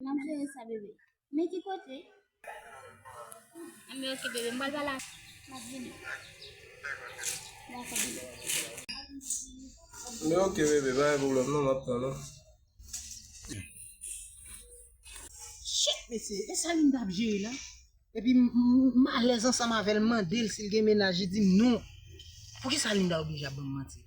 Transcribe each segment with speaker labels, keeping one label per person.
Speaker 1: Map jere sa bebe. Men ki kote? Mwen ok bebe, mwen bala. Map
Speaker 2: vini. Mwen ok bebe. Mwen ok bebe, bay problem non map pran non.
Speaker 3: Shit mesye, e sa li mtap jere la? Epi m alèz ansanm avèl, m mandel sil gen menaj li dim non. Poukisa Linda oblije ap banm manti la?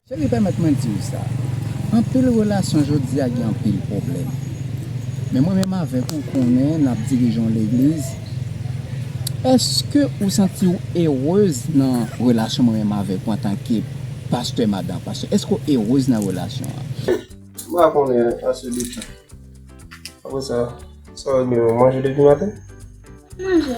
Speaker 1: Cheri
Speaker 4: pèmèt mwen di w sa, anpil relasyon jodi a gen anpil pwoblèm. Men mwen menm avèk ou konnen nap dirije yon legliz, èske ou santi w erez nan relasyon mwen menm avèk ou antanke pastè madan pastè, èske w erez nan relasyon an? M pa
Speaker 2: konnen ase de sa. Apresa sa w di menm, ou manje depi maten? Manje.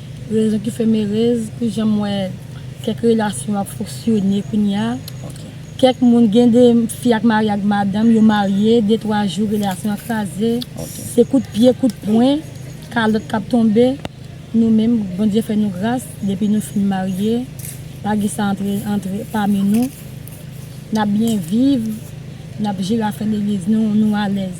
Speaker 5: Rezon ki fèm erez pou janm wè kèk relasyon ap foksyone kounya kèk moun gen de fi ak mari ak madanm yo marye de twa jou relasyon an kraze se kout pye kout pwen kalòt kap tonbe nou menm Bondye fè nou gras depi nou fin marye pa gen sa antre antre pami nou nap byen viv nap jere afè legliz nou nou alèz.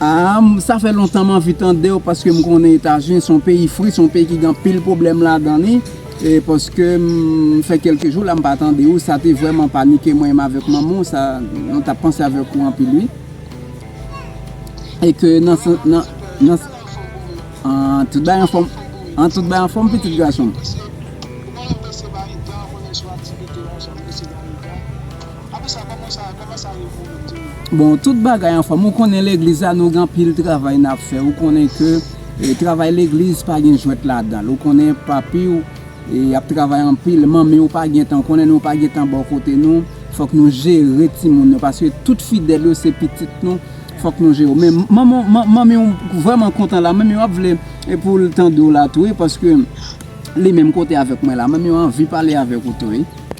Speaker 4: Aahmm sa fè lontan m anvi tandew paske m konnen etazini son peyi fri son peyi ki gen anpil pwoblèm ladan li e paske m fè kelke jou la m pa tande ou sa te vrèman panike mwen menm avèk manman w sa nou tap panse avèk ou anpil wi e ke nan aahh tout bagay anfòm an tout bagay anfòm pitit gason m. Apre sa koman sa koman sa ye pou moun tou. Bon tout bagay anfòm ou konnen legliz la nou gen anpil travay nap fè ou konnen ke travay legliz pa gen jwèt ladanl ou konnen papiw ap travay anpil manmiw pa gentan ou konnen nou pa gentan bò kote nou fòk nou jere timoun nou paske tout fidèl yo se pitit nou fòk nou jere men manmiw vrèman kontan la manmiw ap vle poul tandew la tou wi paske li menm kote avèk mwen la manmiw anvi pale avèk ou tou wi.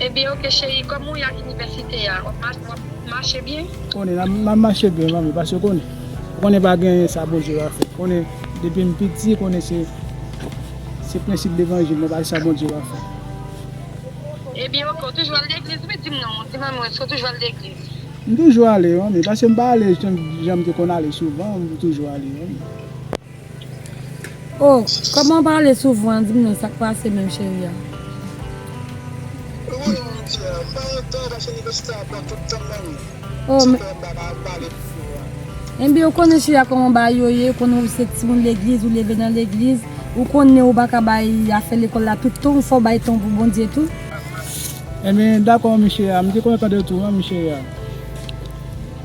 Speaker 5: Ebyen ok cheri koman w ye ak inivèsite a wap mache byen? Konnen map
Speaker 6: mache byen manmi paske konnen ou konnen pa gen sa Bondye pa fè konnen depim piti konnen se se prensip levanjil mwen pa gen sa Bondye pa fè.
Speaker 5: Ebyen ok ou toujou al legliz wi dim non di manmi w èske ou toujou al legliz? M toujou ale
Speaker 6: manmi paskem pa ale janm te konn ale souvan m toujou ale manmi.
Speaker 5: Oh kòman w pale souvan an dim non sak pase menm cheri a. Wouyy mon Dieu m pa yon tan paske université a pran tout tan m nan wi Oh m. Sa fè m pa
Speaker 7: ka pale pou ou
Speaker 5: an. Enbyen ou konnen cheri a kòman bagay yo ye ou konnen ou se timoun legliz ou leve nan legliz ou konnen ou pa ka bay afè lekòl la tout tan ou fò w bay tan w pou Bondye tou.
Speaker 6: Enbyen dakò mon cheri a m te konn tande w tou an mon cheri a.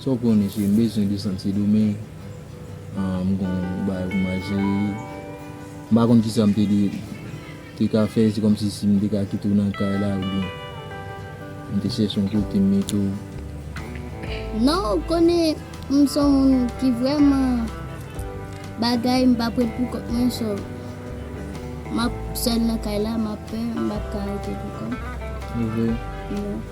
Speaker 1: Sa w konnen
Speaker 4: si m bezwen desann Sendomeng m gen yon bagay pou mwen jere m pa konn kisa m te ka fè se kòmsi si m te ka kite w nan kay la oubyen m te chèche yon kote m mete w.
Speaker 1: Non ou konnen m son moun ki vrèman bagay m pa p ret pou kont mwen so m ap sèl nan kay la m ap pè m pa p ka rete pou kont. Se vre?
Speaker 4: Wi.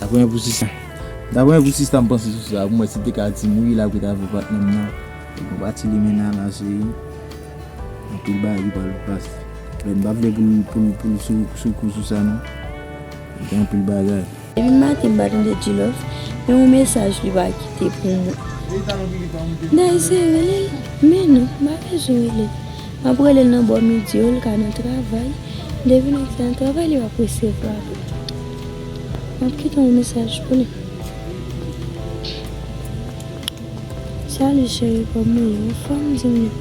Speaker 4: Daprè pou sista Daprè pou sista m panse sou sa pou mwen si te ka di m wi la pou ta vle patnè m nan. Bon pati limenana se anpil bagay ki pral pase men m pa vle pou l pou l pou l sou sou kou sou sa non gen anpil bagay. Depi maten m pa
Speaker 8: tande Djilòf men yon mesaj li pa kite pou mwen Dayise rele l men non m pa bezwen rele l m ap rele l nan bò midi yo l ka nan travay depi l ap travay li pap resevwa m. Map kite yon mesaj pou li. Salut chérie kòman ou ye ou anfòm dim non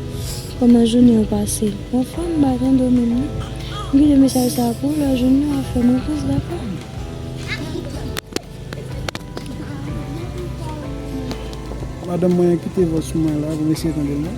Speaker 8: kòman jounen ou pase ou anfòm maten domi non m kite mesaj sa pou ou lè jounen wap fèm repons dakò. Madanm
Speaker 6: mwen kite vòs mwen la pou m eseye tande l non.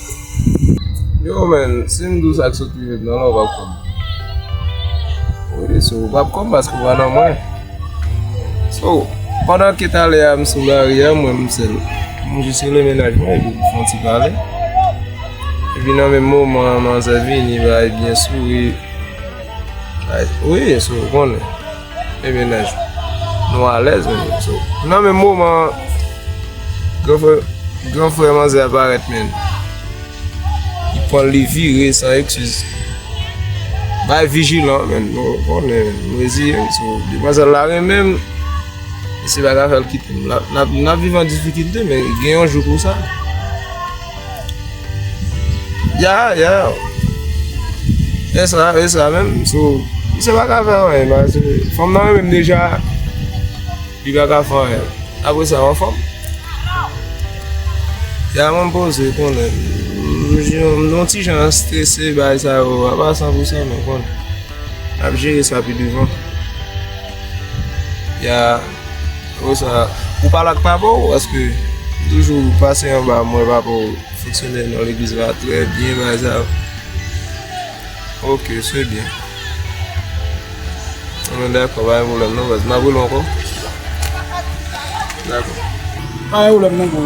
Speaker 2: Yo men, si m dou sak sot rive m nan la ou pap konn. Ou di sou ou pap konn paske ou pa nan mwen. So, pandan ke talè a m sou la ri a mwen m sèl. M jis rele menaj mwen epi m fon ti pale. Epi nan menm moman an manzè vini bay byen souri. Bay, wi, sou ou konnen. Ebyen guys, nou alèz men yo so. Nan men moman, gran frè, gran frè manzè a parèt men. Li pran li vire san eksiz. Bay vijilan men, nou konnen, nou ezi yo so. Di mwen zè la ren men, se baga fèl kite. Nan vivan difikilte men, gen yon jou pou sa. Ya ya Esa esa menm sou Misye pa ka fè anyen paske fanm nan renmen m deja Li pa ka fè anyen Apre sa ou anfòm Ya mwen poze konnen M yon ti jan strese bagay sa yo a pa 100% men bon N ap jere sa pi devan Ya Ou sa ou pale ak papa ou paske li toujou pase anba mwen papa ou fonksyonè nan legliz la trè byen bagay sa yo ok se byen an nou dakò pa gen pwoblèm non baz m ap rele w ankò dakò pa gen
Speaker 6: pwoblèm non bro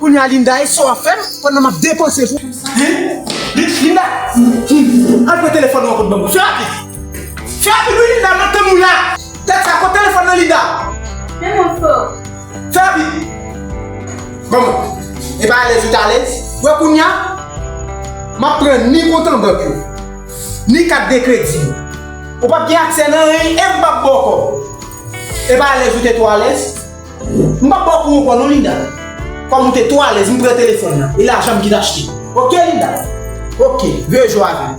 Speaker 3: Kounya Linda e sa wap fèm pandan map depanse pou ou. Hein Linda al pran telefòn ou an kot banm fè rapid fè rapid wi Linda map tann ou la. Tèt sa pran telefòn nan Linda. Menm ou fò.
Speaker 1: Fè
Speaker 3: pipi! Bon, e pa alèz ou t alèz? Wè kounye a, m ap pran ni kont an bank yo, ni kat de kredi yo. Ou pap gen aksè nan anyen e m pap ba w kòb. E pa alèz ou te twò alèz? M pap ba w kou ankò non Linda. Kòm ou te twò alèz, m pran telefòn nan e lajan m ki t achte. Ok Linda? Ok, rejwe avè m.